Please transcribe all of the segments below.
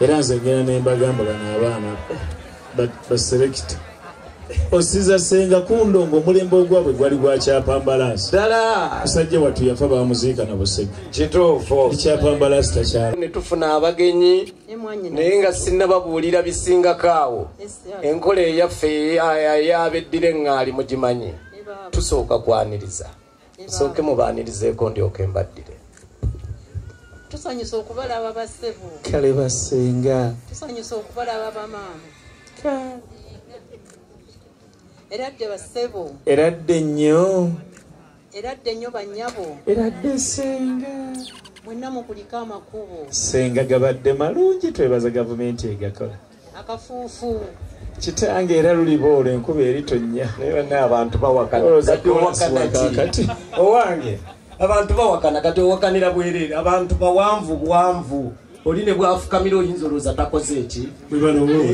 era nze ngenda nembagamba bano abaana baselekita osiza senga kundongo omulembe ogwabwe gwali gwakyapambalaasi ddala musajja wattu yafa bamuziika na busege kituufu ekyapambalaasi takyala ne tufuna abagenyi naye nga sinnababuulira bisingako awo enkola eyaffe ey'abeddira eŋŋaali mugimanyi tusooka kwaniriza nsooke mubaanirizeeko ndyoke mbaddire tusanyusa okubalaba bassebo kale basenga tusanyusa okubalaba bamaama era dde bassebo era dde nnyo era dde nnyo banyabo era dde senga mwenna mukuliko amakubo senga gabadde malungi twebaza gavumenti egakola akafuufu kitange era luliboolo enkuba eritonnya naye banna abantu bawakanaakati owange abantu bawakana kati owakanira bwereere abantu bawanvu bwanvu oli ne bwafukamira oyinza olowooza takoze eki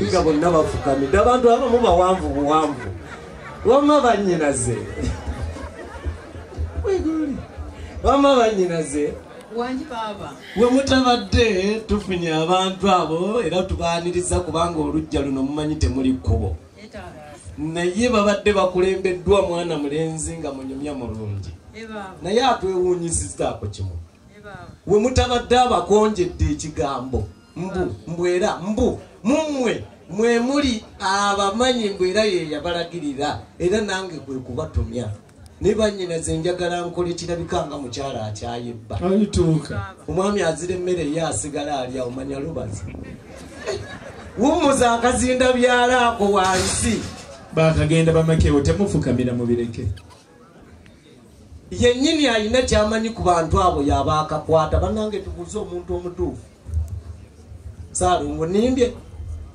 nga bonna bafukamidde abantu abamu bawanvu buwanvu wamma bannyinaze wamma bannyinaze wangi baaba we mutabadde tufunye abantu abo era tubaaniriza kubanga olujja luno mumanyi temuli kkubo naye babadde bakulembeddwa mwana mulenzi nga munyumya mulungi naye atwewuunyisiza ako kimu we mutabadde abakonjedde ekigambo mbu mbwera mbu mummwe mwe muli abamanyi mbwera yeyabalagirira era nange kwe kubatumya naye banyinaze njagala nkole kirabika nga mukyala akyayibba alituuka omwami azira emmere ye asigala alya omanya lubazi wumuza akazinda byalaako wansi bakagenda bamakewo temufukamira mubireke yennyini alina kyamanyi ku bantu abo yabaakakwata banange tubuuze omuntu omutuufu saalongo nimbye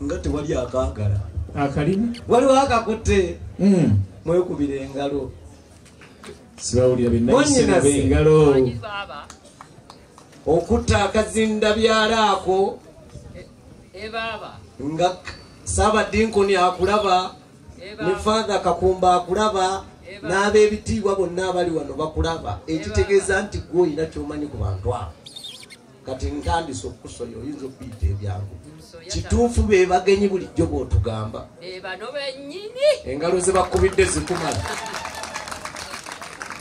nga tewali akaagala akalimu waliwo akakutte hmm. mwekubira engalo sibawulira benayisinabe engalo okutta akazinda byalaako e, e nga saabadinkoni akulaba e ne faatha kakumba akulaba n'ab'ebitiibwa bonna abali wano bakulaba ekitegeeza nti gwe olina kyomanyi ku bantu abo kati ntandise okusoya oyinza okuyita ebyangu kituufu be bagenyi bulijjo bwotugamba engalo ze bakubidde zikumala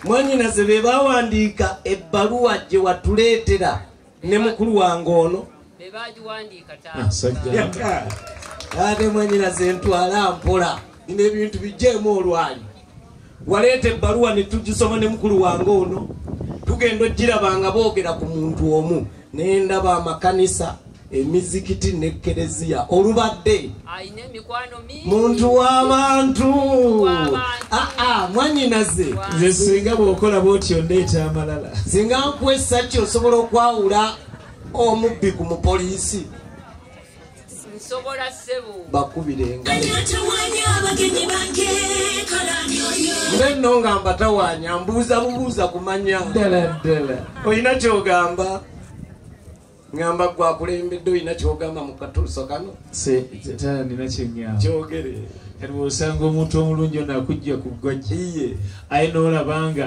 mwanyinaze be bawandiika ebbaluwa gye watuleetera ne mukulu wange ono ah, ate mwanyinaze ntwala mpola nina ebintu bijjeemu olwali waleeta ebbaluwa ne tugisoma ne mukulu wange ono tugenda ogiraba nga boogera ku muntu omu naye ndaba amakanisa emizikiti ne kereziya olubadde muntu w'abantu ah, ah, mwanyinaze nze singa bwokola bwotyo ndeeta amalala singa nkuwa esaki osobola okwawula omubbi ku mupoliisi nsobola sebo bakubira engaenno nga mbatawanya mbuuza bubuuza kumanya ddala ddala olina kyogamba ngamba gwakulembedde olina kyogamba mu katuuso kano nina kyenyama kyogere kati bwosanga omuntu omulungi ono akujja ku ggwajja iye aye noolabanga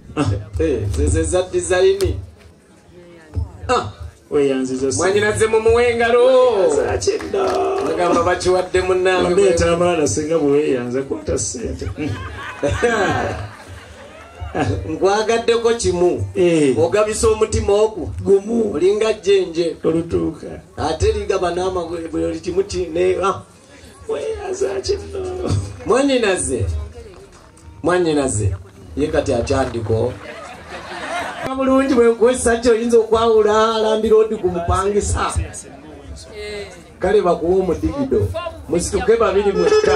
Ah, eh, zezeza dizayini ah, mwanyinaze mumuwa engalo agamba bakiwadde munangeabaana singa bweweyanza kwata sente nkwagaddeko kimu eh. ogabisa omutima ogwo gumu olinga jjenje olutuuka ate ligaba n'amagwe buli kimu kine ah. mwanyinaze mwanyinaze ye kati akyandiko bulungi bwenkuwesaki oyinza okwawula alambira odi ku mupangisa kale bakuwa omudigido musituke babiri mwekka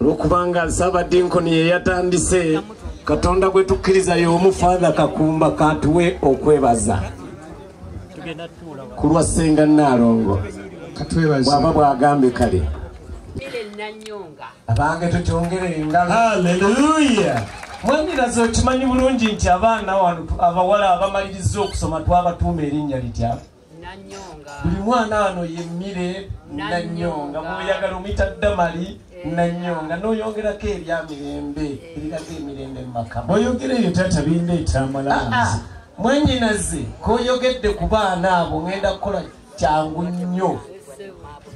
olwokubanga nsaabadinkoni yeyatandise katonda gwe tukkiriza y'omu faatha kakumba katuwe okwebaza ku lwa ssenga nnaalongo bwaba bwagambye kale abange tutyongere engalo aleluya mwandiraza okimanyi bulungi nti abaana wano abawala abamaliriza okusoma twabatuuma erinnya litya buli mwana wano yemmire nanyonga muyagala omuyita damali eh. nanyonga noyongerako ebya mirembe eh. ebiraga emirembe mumaka oyogera eyo tata bimba ekyamalazi ah, ah. mwanyinaze koyogedde ku baana abo ngenda kukola kyangu nnyo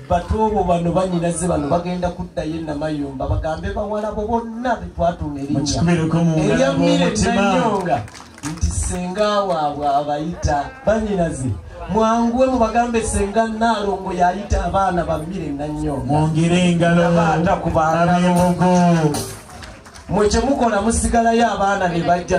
batuubu bano banyinaze bano bagenda kuddayo enamayumba bagambe bawalabo bonna betwatuma erinnya erya mire nanyonga nti senga waabwe abayita banyinaze mwanguwe mubagambe senga naalongo yayita abaana bamire nannyo mwongere engaloata ku baanabemugo mwe kyemukola musigalayo abaana ne bajja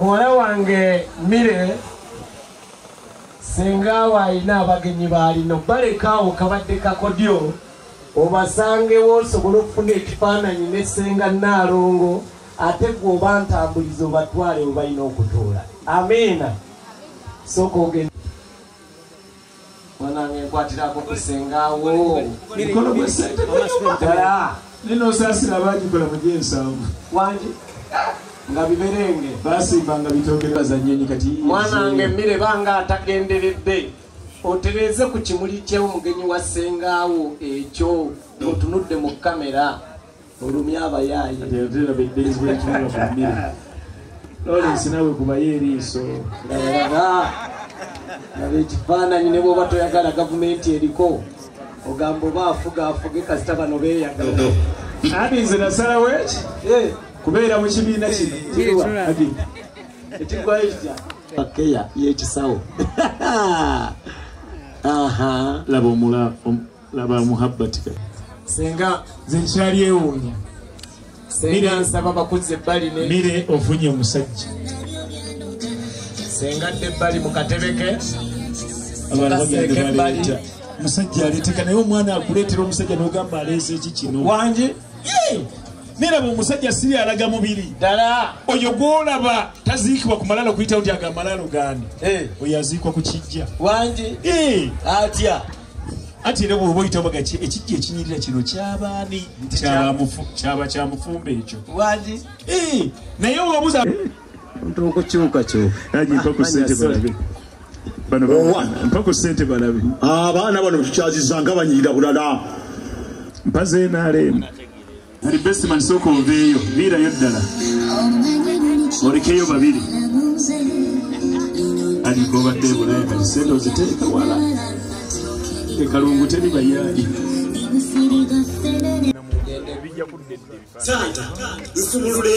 Muwala wange Mire singa awo alina abagenyi baalino balekaawo kabadde kakodyo obasangewo osobole okufuna ekifaananyi ne senga naalongo ate gwe oba ntambuliza obatwale webalina okutuula amiina sooka ogenda Mwanange nkwatirako ku senga wo. Mikono gwe sente gwe nyuma. Dala. Nino sasira bagikola mu jensanvu. Wangi. Nga biberenge. Basi banga bitokere bazanyenyi kati. Mwanange mire banga atagenderedde. Otereze ku kimuli kye omugenyi wa senga wo ekyo. Otunudde mu kamera. olumye abayaaye lawrence nawe kubayo eriiso labalaba laba ekifaananyi ne bwoba toyagala gavumenti eriko ogamba oba afuga afuge kasita bano beyagala adi nze nasalawo eki eh. kubeera mu kibiina kino ekigwayo kitya pakeya yekisawo laba omula laba muhabbati kati senga nze nkyalyewonya senga nsaba bakuzze ebbali ne mire ofunye omusajja senga dde ebbali mu katebe ke musajja aleeteka naye omwana akuleetera omusajja nogamba aleese eki kino wangi neraba omusajja siri alaga mubiri ddala oyo gwolaba taziikibwa ku malalo kuyitawo nti agamalaalo gandi eh. oyo aziikwa ku kijja wangi eh. atya anti era bwoba oyita baga ekijja ekinyirira kino kyabaani kyaba kyamufumba ekyo eh, naye owabuza abaana bano tukyazizanga banyirira bulala mpazenaaleemu Kati Bestman sooka oveeyo, viirayo ddala olekeyo babiri aliko obadde ebulaya kati sente oziteeka wala ekalungu teri bayaayi santa nsumulule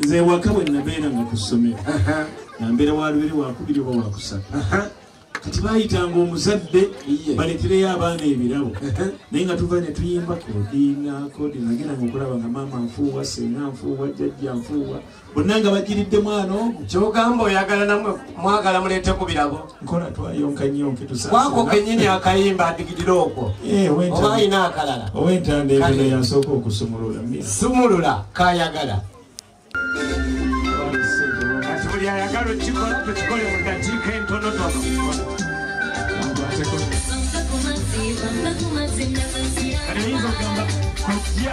nze ewaka bwe nabeera nga ku ssomero nambeera walubere wakubiri oba wakusatu kati bayitanga omuzadde baletereyo abaana ebirabo naye nga tuva netuyimba kodina kodina nagenda nga okulaba nga maama nfuuwa senga nfuuwa jajja nfuuwa bonna nga bajiridde mwana omu kyogamba oyagala namwe mwagala muleete ku birabo nkola twayonka nyonke tusawako kenyini akayimba adigidire okwo eh, oba ayina akalala owentanda ebino yasooka okusumulula sumulula kayagala kati buli ayagala okikola tukikole mu dakiika entonotono Kati oyinza okugamba kojja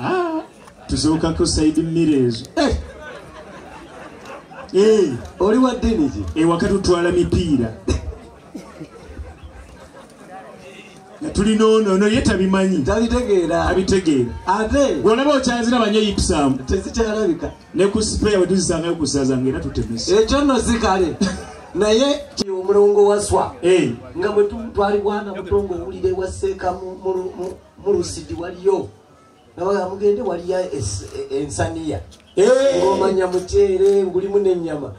Ah, tuzuukako saidi mmere ezo eh! Eh! oli wa ddini ki ewaka tutwala mipiira nga tulina ono ono ye tabimanyi tabitegeera abitegeera ate gwolaba okyazira banyo yipsaamu tezikyalabika ne ku sipeya wetuzisangayo kusaza nga era tutemesa ekyo nno si kale naye kiri omulongo waswa Eh. nga bwe tu- twali bwana mutongo owulira ewa seeka mu- mu- mu- mulusidi waliyo nawe amugende waliyo ensaniya ngomanya muceere ngulimu nenyama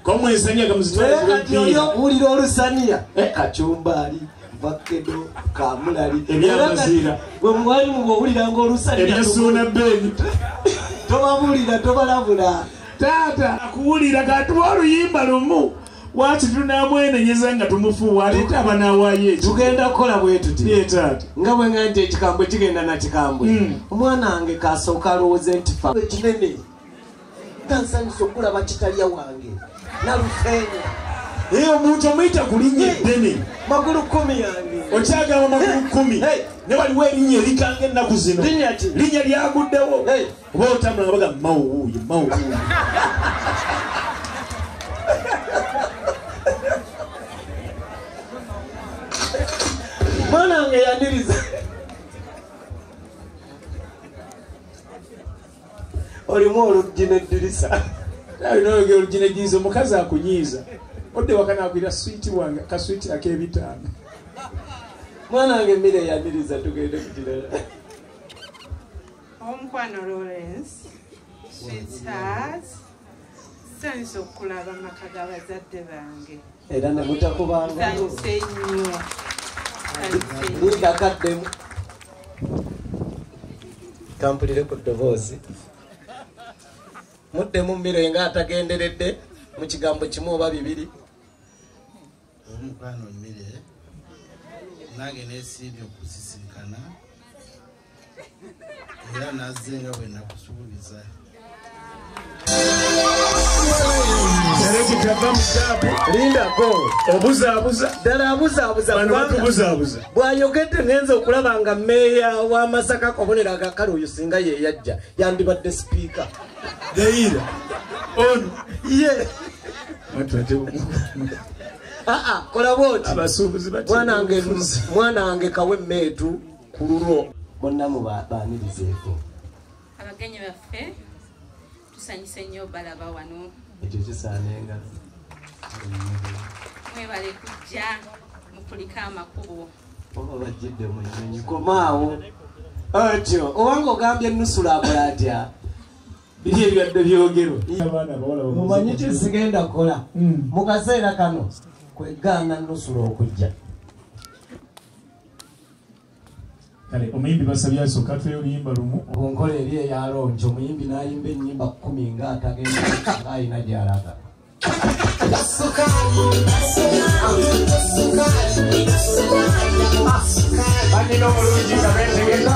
kati oyo wulira olusaniya kacumbaali vakedo kamulali ebyamaziira gwe mwali mubwe owuliranga olusaniya ebyasuuna beni tobabuulira tobalabula taata akuwulira katuwa oluyimba lumu lwaki tunamwenenyeza nga tumufuuwa aleeta abanawaayo ekyo tugenda kukola bwe tuti nga bwe nga nti ekikambwe kigenda na kikambwe hmm. omwana wange kasooka alowooze nti fa ekinene nga nsanyusa okulaba kitalya wange nalufeenya eyo omuntu omuyita ku linnya eddene magulu kumi yange okyagamba magulu kumi ne waliwo erinnya erikanga ennaku zino linnya lyaguddewo oba otambula baga mawuuye mawuuye mwana wange yaniriza olimu oluggi neddirisa nayogera oluggi neddirisa omukazi akunyiiza odde wakanakwira switi wange kaswiti akebitaano mwana wange mire yaniriza tugende kukirala omukwano lawrence sweetheart sanyusa okukulaba amaka ga bazadde bange era nemutakubanganyuse nnyo ndakaddemu kampulire ku ddoboozi muddemu mmiro enga atagenderedde mu kigambo kimu oba bibiri omukwano mmire nange nesimbye okusisinkana era nazze nga bwe nakusuubiza bwayogedde ngenza okulaba nga meeya wa masaka kobonero agakale oyo singa yeyajja yandibadde sipiika deira on ye aa kola bwoti mwana wange kawe meetu ku lulwo bonna mubaanirizeeko abagenyi baffe tusanyuse nnyo balaba wano ekyo kisaana engalo mwebale kujja mukulika amakubo oba bajjidde mu nyonyi komaawo otyo owange ogambye nusula akola atya biri ebyadde byogerwa mumanyi kyo sigenda kukola hmm. mu kaseera kano kwegaana nusula okujja kale omuyimbi basabye asooka atweyo oluyimba lumu onkola eri eyalongi omuyimbi n'ayimba ennyimba kumi nga atagenda alina gyalaga banina omulungi nga betegeka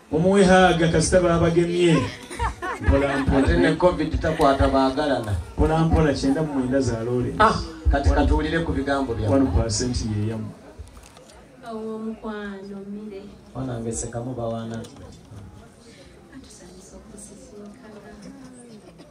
Mumuwe haaga kasita baabagemye. Ate ne covid takwata baagalana. Mpolampola kyenda mu mwenda za loole. Ah, kati katuwulire ku bigambo byammwe. One percent ye yamu. Ow'omukwano mmire. Wanange sekamu bawaana.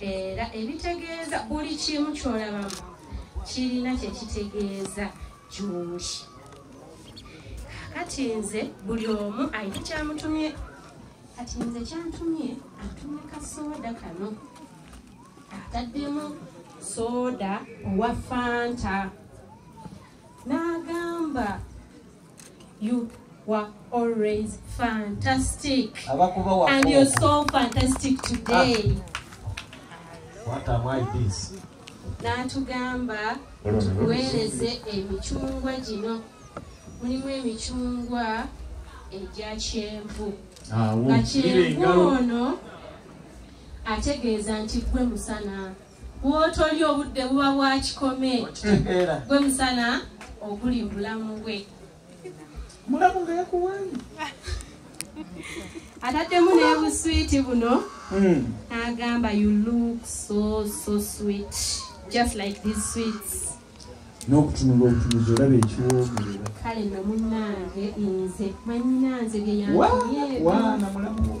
era ebitegeeza buli kimu kyolabamu kirina kyekitegeeza gyoli kati nze buli omu ayina kyamutumye kati nze kyantumye atumye kasooda kano ataddemu sooda owa fanta n'agamba you were always fantastic and you're so fantastic today ah. what am i this n'atugamba tuweereze emicungwa gino mulimu emicungwa egya kyenvu nga kyenvu ono ategeeza nti gwe musana bwotoli obudde buba bwakikome gwe musana oguli mubulamu bwe mulamu nga yakuwanyi ataddemu nebuswiti buno hmm. agamba you look so so sweet just like this sweets n'okutunula obutunuzi olaba ekiwoomerera kale no munange nze mwanyinanze byeyanwana mulamu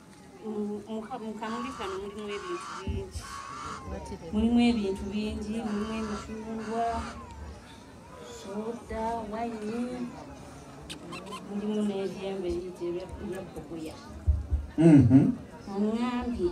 mukamuli kano mulimu ebintu bingi mulimu ebintu bingi mulimu emicungwa soda wayini mulimu n'ebyembe liyite ebyakuguya mm-hmm. oŋambye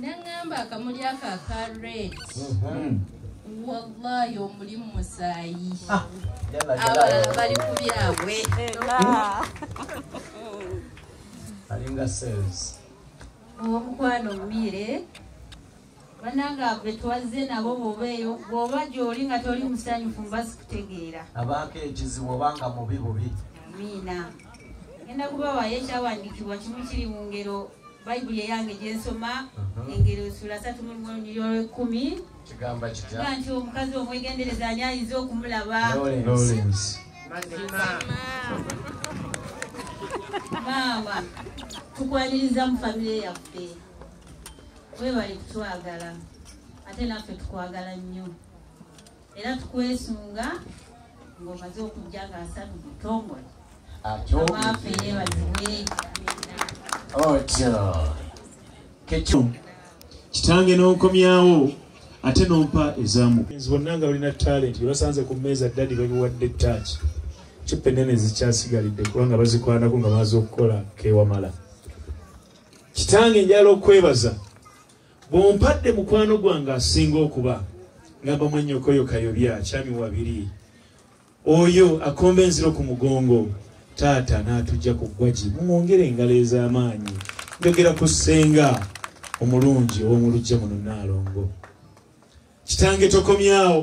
nangamba akamuli ako aka red mhm. wallahi omuli mumusaayi ah, abalala bali ku byabwe alinga sales omukwano mubiire banange ave twazze nabo bobeeyo bwoba gyoli nga toli musanyufu mba sikutegeera abaako ekizibu oba nga mubi bubi amiina Ngenda kubawaayo ekyawandiikibwa kimu kiri mu ngero bayibuli eyange gyensoma uh-huh. engero sula satu mulwolwekumi kigamba kitya nti omukazi omwegendereza ani ayinza okumulaba maama tukwaniriza mu famire yaffe webali kutwagala ate naffe tukwagala nnyo era tukwesunga ng'omaze okujja ng'asatu butongole amaafe yeebazibwe otyo kekyo kitange n'onkomyawo ate n'ompa ezamu bonna nga balina talenti basanze ku mmeeza ddadi babiwadde taaki cupa ennene zikyasigalidde kubanga bazikwanako nga bamaze okukola kewamala kitange njala okwebaza bwompadde mukwano gwange asinga okuba ngamba mwanyokoyo kayobya kyami wabiri oyo akomba enziro ku mugongo taata n'atujja ku ggwagi mumwongere engalo ez'amaanyi njogera ku ssenga omulungi ow'omulujja muno naalongo kitange tokomyawo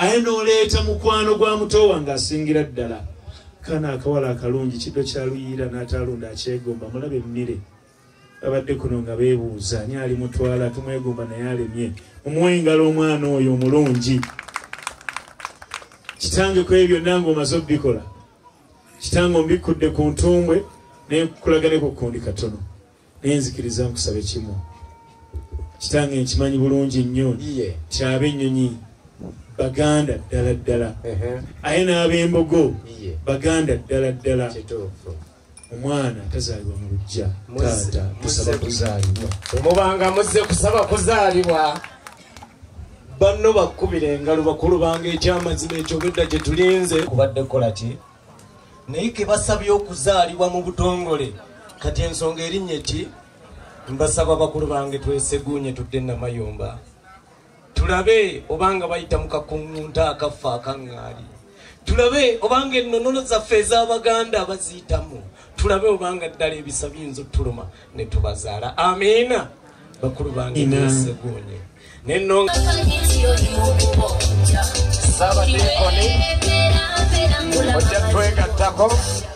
aye n'oleeta mukwano gwa muto wange asingira ddala kana akawala akalungi kiddo kya luyiira n'ataalunda akyegomba mulabe emmire babadde kuno nga beebuuza ani ali mutwala tumwegomba naye alemye mumuwa engalo omwana oyo omulungi kitange ku ebyo byonna ngaomaze obikola kitange ombikkudde ku ntumbwe nenkukulagane ku kundi katono nenzikiriza nkusabe kimu kitange nkimanyi bulungi nnyo kyabe ennyonyi baganda ddala ddala aye n'abembogo baganda ddala ddala omwana tazalibwa mu lujja taata tusaba kuzalibwa temubanga muzze kusaba kuzalibwa banno bakkubira engalo bakulu bange ekyamazima ekyo obedda gye tulinze kubadde kukola ki naye ke basabye okuzaalibwa mu butongole kati ensonga erinnya ki mbasaba bakulu bange tweseguunye tudde namayumba tulabe obanga bayita mu kakuŋŋunta akaffe akaŋŋaali tulabe obanga ennonono zaffe ez'abaganda baziyitamu tulabe obanga ddala ebisa biyinza otuluma ne tubazaala amiina bakulu bange neseguunye nenonga ojja twegattako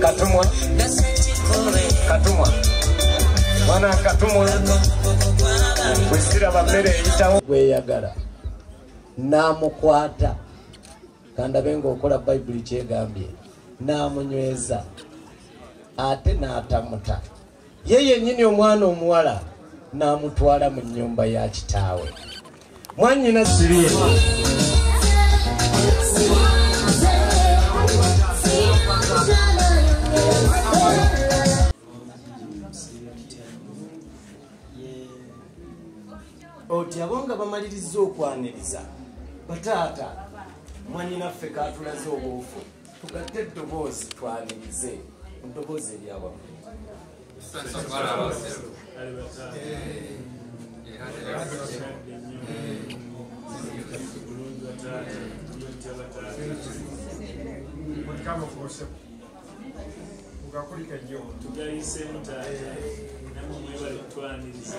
katumwa katumwa mwana katumwa wesiraba mmere eyitawo gweyagala namukwata kandabe ngaokola bayibuli kyegambye namunyweza ate natamuta ye yennyini omwana omuwala n'amutwala mu nnyumba ya kitaawe mwanyina sibye oti abo nga bamalirizza okwaniriza bataata mwanyinaffe katulaze obuufu tugatte eddoboozi twanirize eddoboozi eryawamu tugayisemuta namwe mwebale kutwaniriza